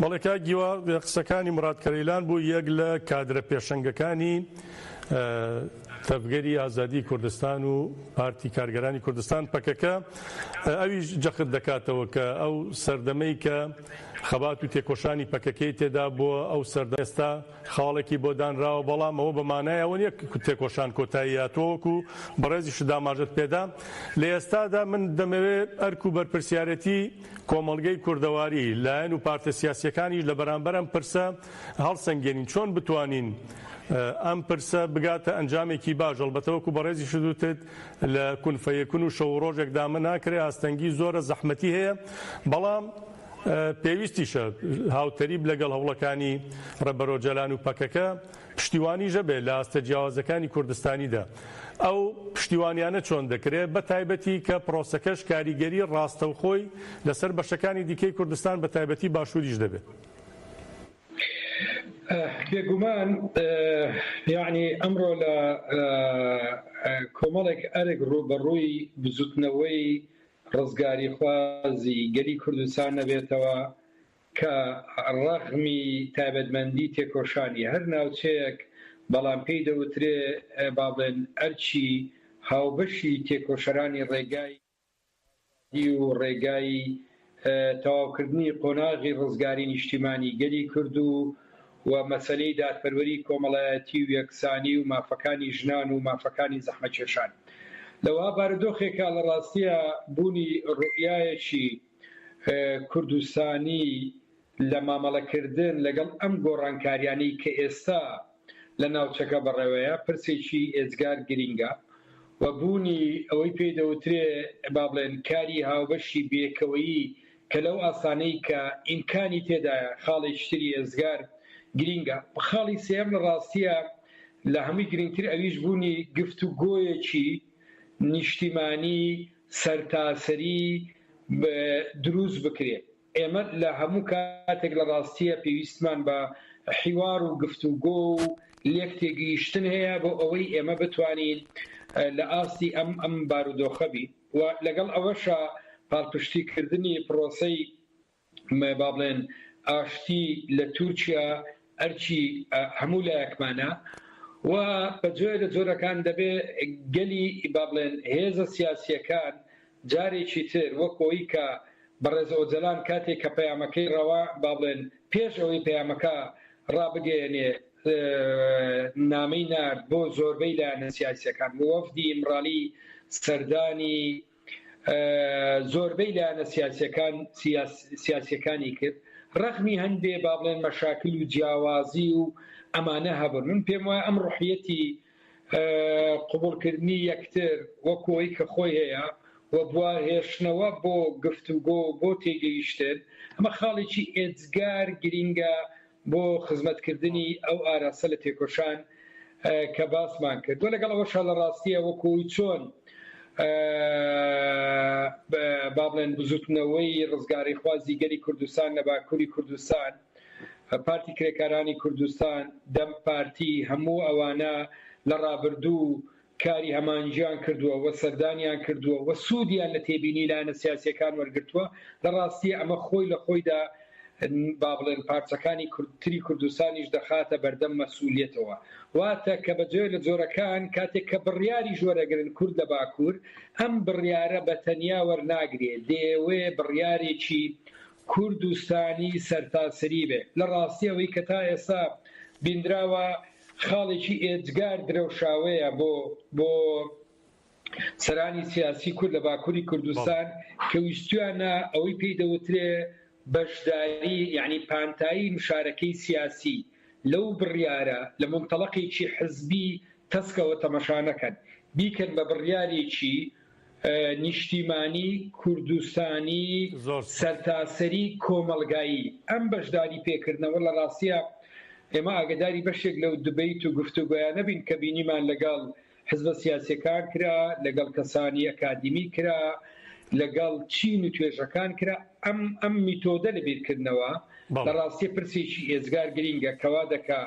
بەڵێ کاک گیوا قسەکانی مراد کەرەیلان بوو یەک لە کادرە پێشەنگەکانی تەڤگەری ئازادی کوردستان و پارتی کارگەرانی کوردستان پەکەکە ئەویش جەخت دەکاتەوە کە ئەو سەردەمەی کە خەبات و تێکۆشانی پەکەکەی تێدا بووە ئەو سەردە ئێستا خاڵێکی بۆ دانراوە بەڵام ئەوە بە مانای ئەوە نیە تێکۆشان کۆتایی هاتووە وەکو بەڕێزیشت داماژەت پێدا لە ئێستادا من دەمەوێت ئەرک و بەرپرسیارەتی کۆمەڵگەی کوردەواری لایەن و پارتە سیاسیەکانیش لە بەرامبەر ئەم پرسە هەڵسەنگێنین چۆن بتوانین ئەم پرسە بگاتە ئەنجامێکی باش هەڵبەتەوەکو بەڕێزی شدوتت لە کونفەیەکون و شەو ڕۆژێکدا من ناکرێ ئاستەنگی زۆرە زەحمەتی هەیە بەڵام پێویستیشە هاوتەریب لەگەڵ هەوڵەکانی ڕێبەرۆجەلان و پەکەکە پشتیوانیش هەبێت لە ئاستە جیاوازەکانی کوردستانیدا. ئەو پشتیوانیانە چۆن دەکرێت، بەتایبەتی کە پرۆسەکەش کاریگەری ڕاستەوخۆی لەسەر بەشەکانی دیکەی کوردستان بەتایبەتی باشووریش دەبێت؟ بێگومان یەعنی ئەمڕۆ لە کۆمەڵێک ئەرک ڕووبەڕووی بزوتنەوەی ڕزگاریخوازی گەلی کوردستان نەبێتەوە کە ڕەغمی تایبەتمەندی تێکۆشانی هەر ناوچەیەک بەڵام پێی دەوترێ با بڵێن ئەرکی هاوبەشی تێکۆشەرانی ڕێگای ئازادی و ڕێگای تەواوکردنی قۆناغی ڕزگاری نیشتیمانی گەلی کورد و و مەسەلەی دادپەروەری کۆمەڵایەتی و یەکسانی و مافەکانی ژنان و مافەکانی زەحمەتکێشان لەوها بارودۆخێکا لە ڕاستیا بوونی ڕوئیایەکی کوردستانی لە مامەڵەکردن لەگەڵ ئەم گۆڕانکاریانەی کە ئێستا لە ناوچەکە بەڕێوەیە پرسێکی ئێجگار گرینگە و بوونی ئەوەی پێی دەوترێ با بڵێن کاری هاوبەشی بێکەوەیی کە لەو ئاستانەی کە ئیمکانی تێدایە خاڵی شتری ئێجگار گرینگە. خاڵی سێیەم لە ڕاستیە لە هەمووی گرینگتر ئەویش بوونی گفتوگۆیەکی نیشتیمانی سەرتاسەری دروست بکرێ. ئێمە لە هەموو کاتێک لە ڕاستیە پێویستمان بە حیوار و گفتوگۆ و لێک تێگەیشتن هەیە بۆ ئەوەی ئێمە بتوانین لە ئاستی ئەم ئەم بارودۆخە بین. و لەگەڵ ئەوەشا پاڵپشتیکردنی پڕۆسەی با بڵێن ئاشتی لە تورکیا ئەرکی هەموو لایەکمانە و بە جۆێ لە جۆرەکان دەبێ گەلی با بڵێن هێزە سیاسییەکان جارێکی تر وەک ئەوەی کە بەڕێز ئۆجەلان کاتێک کە پەیامەکەی ڕەوا با بڵێن پێش ئەوەی پەیامەکە ڕابگەیەنێ نامەی نارد بۆ زۆربەی لایەنە سیاسییەکان و وەفدی ئیمرالی سەردانی زۆربەی لایەنە سیاسییەکان سیاسییەکانی کرد ڕەخنی هەندێ با بڵێن مەشاکل و جیاوازی و ئەمانە هەبن من پێم وایە ئەم ڕحیەتی قوبولکردنی یەکتر وەکۆی کە خۆی هەیە و بوە هێشتنەوە بۆ گفتوگۆ بۆ تێگەیشتن ئەمە خاڵێکی ئێجگار گرینگە بۆ خزمەت کردنی ئەو ئاراستە لە تێکۆشان کە باسمان کرد و لەگەڵ ئەوەشا لە ڕاستیە وەکو چۆن با بڵێن بزوتنەوەی ڕزگاریخوازی گەلی کوردستان لە باکوری کوردستان پارتی کرێکارانی کوردستان دەم پارتی هەموو ئەوانە لە ڕابردوو کاری هەمانجیان کردووە و سەردانیان کردووە و سوودیان لە تێبینی لایەنە سیاسییەکان وەرگرتووە، لە ڕاستیی ئەمە خۆی لە خۆیدا با بڵێن پارچەکانی کوردتری کوردستانیش دەخاتە بەردەم مەسئوولییەتەوە. واتە کە بە جۆێ لە جۆرەکان کاتێک کە بڕیاریش وەرەگرن کورد لە باکوور ئەم بڕیارە بە تەنیا وەرناگرێ، دەیەوێ بڕیارێکی کوردستانی سەرتاسریی بێ. لە ڕاستیی ئەوەی کە تا ئێستا بیندراوە، خاڵێکی ئێجگار درەوشاوەیە بۆ بۆ سەرانی سیاسی کورد لە باکووری کوردستان کە ویستویانە ئەوەی پێی دەوترێ بەشداری یعنی پانتایی مشارەکەی سیاسی لەو بڕیارە لە منتەڵەقێکی حزبی تەسکەوە تەمەشا نەکەن بیکەن بە بڕیارێکی نیشتیمانی، کوردستانی، سەرتاسەری، کۆمەڵگایی. ئەم بەشداری پێکردنەوە لە ڕاستیا ئێمە ئاگەداری بەشێک لەو دبەیت و گفتوگۆیانە بین کە بینیمان لەگەڵ حزبە سیاسیەکان کرا، لەگەڵ کەسانی ئەکادیمی کرا، لەگەڵ چین و توێژەکان کرا. ئەم ئەم میتۆدە لە بیرکردنەوە لە ڕاستیە پرسێکی ئێجگار گرینگە کە وا دەکا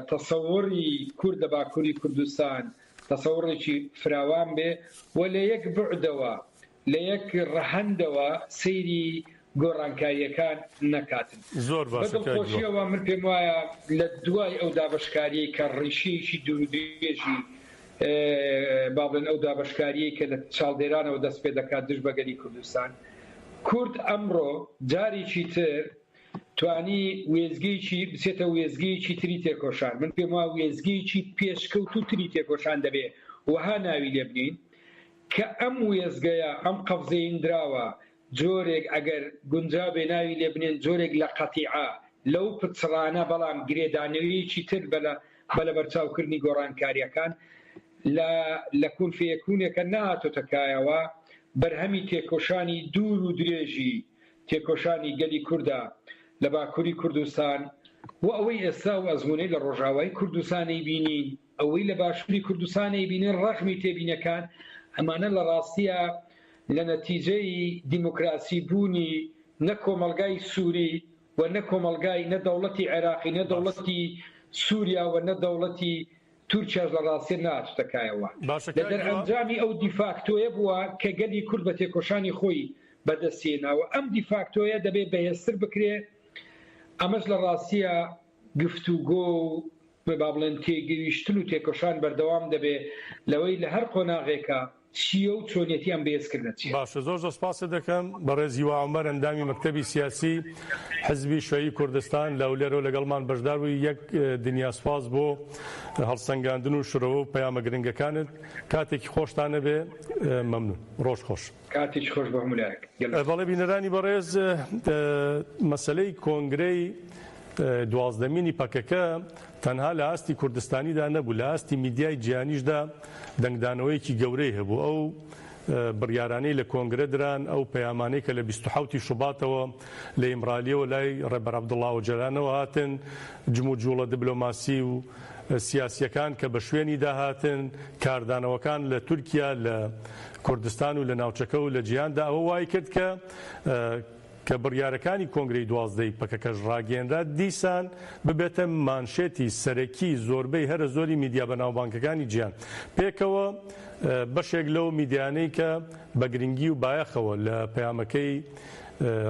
تەسەوڕی کورد لە باکوری کوردستان، تەسەوڕێکی فراوان بێ و لە یەک بوعدەوە، لە یەک ڕەهەندەوە سەیری گۆڕانکارییەکان نەکاتن. زۆر بە باشە کاک هیوا. دڵخۆشییەوە من پێم وایە لە دوای ئەو دابەشکارییەی کە ڕیشەیەکی دوورودرێژی با بڵێن ئەو دابەشکارییەی کە لە چاڵدێرانەوە دەست پێ دەکات دژ بە گەلی کوردستان، کورد ئەمڕۆ جارێکی تر توانی وێستگەیەکی بچێتە وێستگەیەکی تری تێکۆشان، من پێم وایە وێستگەیەکی پێشکەوتوو تری تێکۆشان دەبێ وەها ناوی لێ بنێین کە ئەم وێستگەیە ئەم قەفزێیندراوە جۆرێک ئەگەر گونجا بێ ناوی لێ بنێن جۆرێک لە قەتیعە لەو پچڕانە بەڵام گرێدانەوەیەکی تر بە بە لەبەرچاو کردنی گۆڕانکارییەکان لە لە کون فیەکونێکە نەهاتۆتە کایەوە بەرهەمی تێکۆشانی دوور و درێژی تێکۆشانی گەلی کوردە لە باکوری کوردستان و ئەوەی ئێستا ئەو ئەزمونەی لە ڕۆژئاوای کوردستان ئەیبینین، ئەوەی لە باشوری کوردستان ئەیبینین ڕەخمی تێبینەکان ئەمانە لە ڕاستیا لە نەتیجەی دیموکراسی بوونی نە کۆمەڵگای سوری و نە کۆمەڵگای نە دەوڵەتی عێراقی نە دەوڵەتی سوریا و نە دەوڵەتی تورکیاش لە ڕاستێ نەهاتووتە کایەوە. باشە لە کاک هیوا. دەرئەنجامی ئەو دیفاکتۆیە بووە کە گەلی کورد بە تێکۆشانی خۆی بە دەستی هێناوە. ئەم دیفاکتۆیە دەبێ بەهێزتر بکرێ. ئەمەش لە ڕاستیە گفتوگۆ و با بڵێن تێگەیشتن و تێکۆشان بەردەوام دەبێ لەوەی لە هەر قۆناغێکا چییە و چۆنیەتیان بەهێز کردە چییە؟ باشە زۆر زۆر سپاست دەکەم. بەڕێز هیوا عومەر ئەندامی مەکتەبی سیاسی حزبی شیوعی کوردستان لە هەولێرەوە لەگەڵمان بەشدار بووی یەک دنیا سپاس بۆ هەڵسەنگاندن و شرۆڤە و پەیامە گرنگەکانت کاتێکی خۆشتان نەبێ مەمنون ڕۆژ خۆش. کاتێکی خۆش بۆ هەموو لایەک. بەڵێ بینەرانی بەڕێز مەسەلەی کۆنگرەی دوازدەمینی پەکەکە تەنها لە ئاستی کوردستانیدا نەبوو، لە ئاستی میدیای جیهانیشدا دەنگدانەوەیەکی گەورەی هەبوو. ئەو بڕیارانەی لە کۆنگرە دران، ئەو پەیامانەی کە لە بیست و حەوت ی شوباتەوە لە ئیمرالییەوە لای ڕێبەر عەبدوڵا ئۆجەلانەوە هاتن، جموجوڵە دبلۆماسی و سیاسییەکان کە بە شوێنیدا هاتن، کاردانەوەکان لە تورکیا، لە کوردستان و لە ناوچەکە و لە جیهاندا ئەوە وایکرد کە کە بڕیارەکانی کۆنگرەی دوازدە ی پەکەکەش ڕاگەیەنرا دیسان ببێتە مانشێتی سەرەکی زۆربەی هەرە زۆری میدیا بەناوبانگەکانی جیهان پێکەوە بەشێک لەو میدیانەی کە بە گرنگی و بایەخەوە لە پەیامەکەی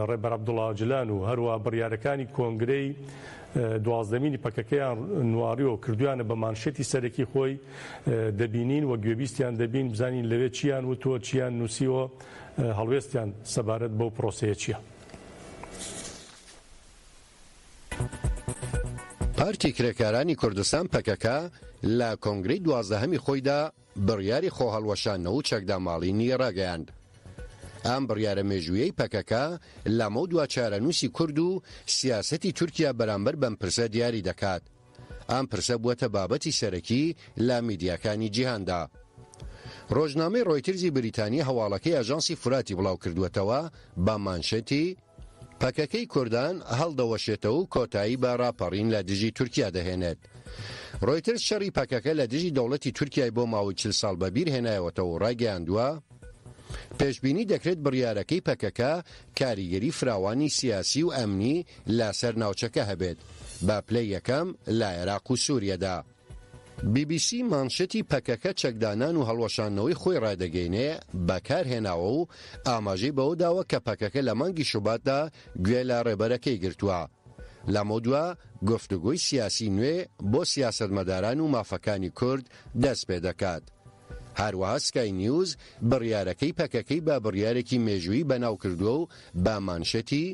ڕێبەر عەبدوڵا ئۆجلان و هەروا بڕیارەکانی کۆنگرەی دوازدەمینی پەکەکەیان نواڕیەوە کردویانە بە مانشێتی سەرەکی خۆی دەبینین و گوێبیستیان دەبین بزانین لەوێ چیان وتووە چیان نووسیوە هەڵوێستیان سەبارەت بەو پرۆسەیە چییە؟ پارتی کرێکارانی کوردستان، پەکەکە، لە کۆنگرەی دوازدەهەمی خۆیدا بڕیاری خۆهەڵوەشاندنەوە و چەکداماڵینی ڕاگەیاند. ئەم بڕیارە مێژوویەی پەکەکە لەمەودوا چارەنووسی کورد و سیاسەتی تورکیا بەرامبەر بەم پرسە دیاری دەکات. ئەم پرسە بووەتە بابەتی سەرەکی لە میدیاکانی جیهاندا. ڕۆژنامەی ڕۆیترزی بریتانی هەواڵەکەی ئاژانسی فوراتی بڵاوکردووەتەوە بە مانشێتی، پەکەکەی کوردان هەڵدەوەشێتەوە و کۆتایی بە ڕاپەڕین لە دژی تورکیا دەهێنێت. ڕۆیترز شەڕی پەکەکە لە دژی دەوڵەتی تورکیای بۆ ماوەی چل ساڵ بەبیرهێنایەوەتەوە و ڕایگەیاندووە، پێشبینی دەکرێت بڕیارەکەی پەکەکە کاریگەری فراوانی سیاسی و ئەمنی لە سەر ناوچەکە هەبێت بە پلەی یەکەم لە عێراق و سوریەدا. بی بی سی مانشێتی پەکەکە چەکدانان و هەڵوەشاندنەوەی خۆی ڕایدەگەینێ بەکارهێناوە و ئاماژەی بەوە داوە کە پەکەکە لە مانگی شوباتدا گوێ لە ڕێبەرەکەی گرتووە لەمەودوا گفتوگۆی سیاسی نوێ بۆ سیاسەتمەداران و مافەکانی کورد دەست پێدەکات. هەروەها سکای نیوز بڕیارەکەی پەکەکەی بە بڕیارێکی مێژوویی بەناو کردووە و بە مانشێتی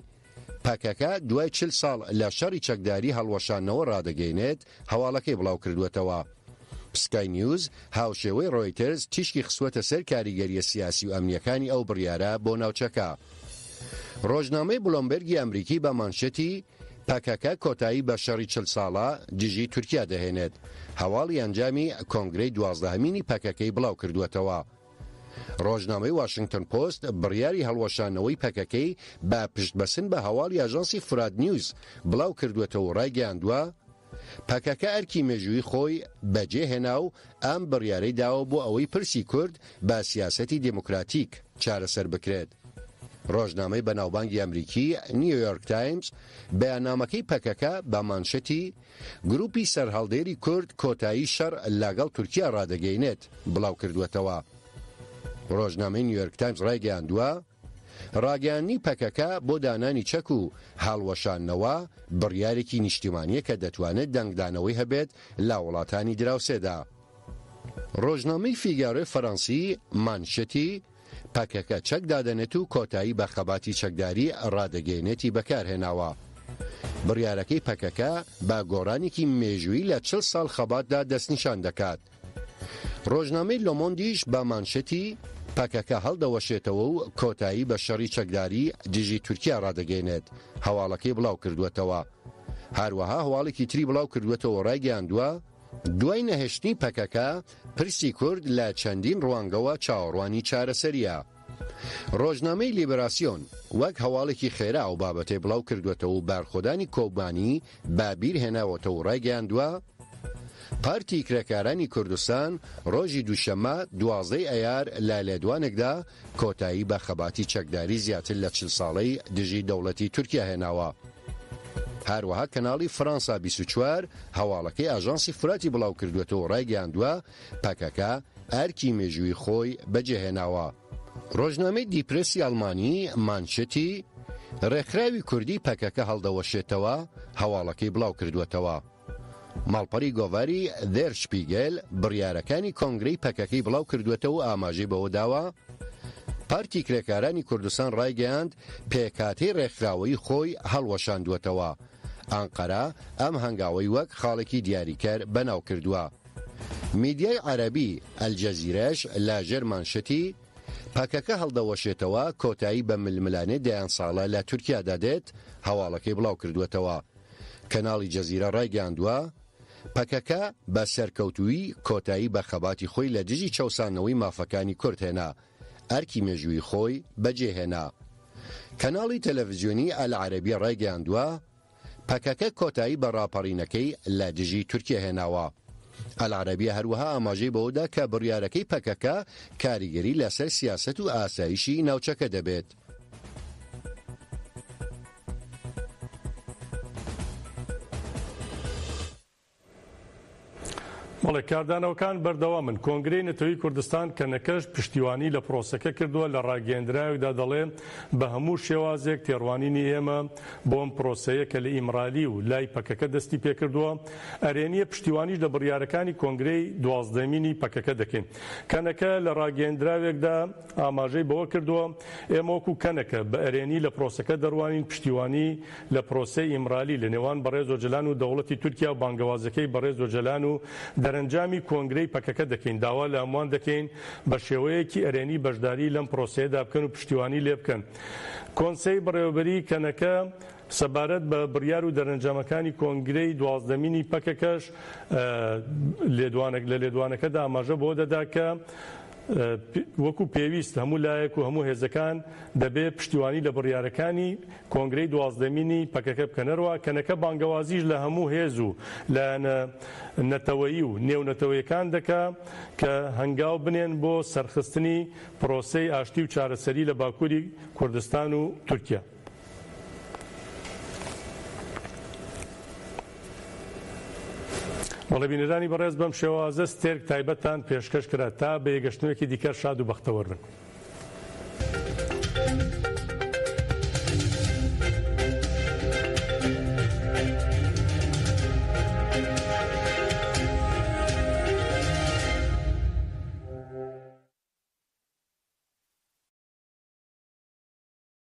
پەکەکە دوای چل ساڵ لە شەڕی چەکداری هەڵوەشانەوە ڕادەگەینێت هەواڵەکەی بڵاو کردووەتەوە. سکای نیوز هاوشێوەی ڕۆیتەرز تیشکی خستووەتە سەر کاریگەرییە سیاسی و ئەمنییەکانی ئەو بڕیارە بۆ ناوچەکە. ڕۆژنامەی بلۆمبێرگی ئەمریکی بە مانشێتی پەکەکە کۆتایی بە شەڕی چل ساڵە دژی تورکیا دەهێنێت، هەواڵی ئەنجامی کۆنگرەی دوازدەهەمینی پەکەکەی بڵاوکردووەتەوە. رۆژنامەی واشنگتۆن پۆست بڕیاری هەڵوەشانەوەی پەکەکەی بە پشتبەسن بە هەواڵی ئاژانسی فورات نیوز بڵاوکردووەتەوە و رایگەیاندووە، پەکەکە ئەرکی مێژوویی خۆی بەجێهێنا و ئەم بڕیارەی داوە بۆ ئەوەی پرسی کورد بە سیاسەتی دێموکراتیک چارەسەر بکرێت. ڕۆژنامەی بەناوبانگی ئەمریکی، نیویۆرک تایمز، بەیاننامەکەی پەکەکە بە مانشەتی، گرووپی سەرهەڵدێری کورد کۆتایی شەڕ لاگەڵ تورکیا ڕادەگەینێت، بڵاوکردووەتەوە. ڕۆژنامەی نیویۆرک تایمز ڕایگەیاندووە، ڕاگەیاندنی پەکەکە بۆ دانانی چەک و هەڵوەشاندنەوە بڕیارێکی نیشتیمانییە کە دەتوانێت دەنگدانەوەی هەبێت لە وڵاتانی دراوسێدا. ڕۆژنامەی فیگارۆی فەرەنسی مانشێتی، پەکەکە چەک دادەنێت و کۆتایی بە خەباتی چەکداری ڕادەگەیەنێتی بەکارهێناوە. بڕیارەکەی پەکەکە بە گۆڕانێکی مێژوویی لە چل ساڵ خەباتدا دەستنیشان دەکات. ڕۆژنامەی لۆمۆندیش بە مانشێتی، پەکەکە هەڵدەوەشێتەوە و کۆتایی بە شەڕی چەکداری دژی تورکیا ڕادەگەیەنێت، هەواڵەکەی بڵاوکردووەتەوە. هەروەها هەواڵێکی تری بڵاوکردووەتەوە و ڕایگەیاندووە، دوای نەهێشتنی پەکەکە، پرسی کورد لە چەندین ڕوانگەوە چاوەڕوانی چارەسەرییە. ڕۆژنامەی لیبراسیۆن وەک هەواڵێکی خێرا ئەو بابەتەی بڵاوکردووەتەوە و بارخۆدانی کۆبانی بە بیرهێناوەتەوە و ڕایگەیاندووە، پارتی کرێکارانی کوردستان ڕۆژی دووشەممە دوازدە ی ئەیار لە لێدوانێکدا کۆتایی بە خەباتی چەکداری زیاتر لە چل ساڵەی دژی دەوڵەتی تورکیا هێناوە. هەروەها کەناڵی فڕانسا بیست و چوار هەواڵەکەی ئاژانسی فوراتی بڵاوکردووەتەوە و ڕایگەیاندووە، پەکەکە ئەرکی مێژوویی خۆی بەجێهێناوە. ڕۆژنامەی دی پرێسی ئەڵمانی مانشێتی ڕێکخراوی کوردی پەکەکە هەڵدەوەشێتەوە هەواڵەکەی بڵاوکردووەتەوە. ماڵپەڕی گۆڤاری، دێر شپیگێل، بڕیارەکانی کۆنگرەی پەکەکەی بڵاوکردووەتەوە و ئاماژەی بەوەداوە، پارتی کرێکارانی کوردستان ڕایگەیاند، پێکهاتەی ڕێکخراوەیی خۆی هەڵوەشاندووەتەوە، ئەنقەرە ئەم هەنگاوەی وەک خاڵێکی دیاریکەر بەناوکردووە. میدیای عەرەبی، ئەلجەزیرەش لە ژێر مانشتی، پەکەکە هەڵدەوەشێتەوە، کۆتایی بە ململانێ دەیان ساڵە لە تورکیادا دێت، هەواڵەکەی بڵاوکردووەتەوە. کەناڵی جەزیرە ڕایگەیاندووە، پەکەکە بە سەرکەوتوویی کۆتایی بە خەباتی خۆی لە دژی چەوساندنەوەی مافەکانی کورد هێنا، ئەرکی مێژوویی خۆی بەجێهێنا. کەناڵی تەلەڤزیۆنیی ئەلعەرەبیە ڕایگەیاندووە، پەکەکە کۆتایی بە ڕاپەڕینەکەی لە دژی تورکیە هێناوە. ئەلعەرەبیە هەروەها ئاماژەی بەوەدا کە بڕیارەکەی پەکەکە کاریگەری لەسەر سیاسەت و ئاسایشی ناوچەکە دەبێت. بەڵێ کاردانەوەکان بەردەوامن کۆنگرەی نەتەوەی کوردستان کە نەکەش پشتیوانی لە پرۆسەکە کردووە لە ڕاگەیەندراوێکدا دەڵێ بە هەموو شێوازێک تێڕوانینی ئێمە بۆم پرۆسەیە کە لە ئیمرالی و لای پەکەکە دەستی پێکردووە ئەرێنیە پشتیوانیش لە بڕیارەکانی کۆنگرەی دوازدەمینی پەکەکە دەکەین کەنەکە لە ڕاگەیەندراوێکدا ئاماژەی بەوە کردووە، ئێمە وەکو کەنەکە بە ئەرێنی لە پرۆسەکە دەڕوانین، پشتیوانی لە پرۆسەی ئیمرالی لە نێوان بەڕێز ئۆجەلان و دەوڵەتی تورکیا و بانگەوازەکەی بەڕێز ئۆجەلان و دەرەنجامی کۆنگرەی پەکەکە دەکەین، داوا لە هەمووان دەکەین بە شێوەیەکی ئەرێنی بەشداری لەم پرۆسەیەدا بکەن و پشتیوانی لێ بکەن. کۆنسەی بەڕێوەبەریی کەنەکە سەبارەت بە بڕیار و دەرەنجامەکانی کۆنگرەی دوازدەمینی پەکەکەش لە لێدوانەکەدا ئاماژە بەوە دەدا کە، وەکو پێویست هەموو لایەک و هەموو هێزەکان دەبێ پشتیوانی لە بڕیارەکانی کۆنگرەی دوازدەمینی پەکەکە بکەن. هەروا کەنەکە بانگەوازیش لە هەموو هێز و لایەنە نەتەوەیی و نێونەتەوەیەکان دەکا کە هەنگاو بنێن بۆ سەرخستنی پرۆسەی ئاشتی و چارەسەری لە باکووری کوردستان و تورکیا. بەڵێ بینەرانی بەڕێز بەم شێوازە ستێرک تایبەتتان پێشکەش کرا تا بە یەگەشتنوێکی دیکە شاد و بەختەوەر بن.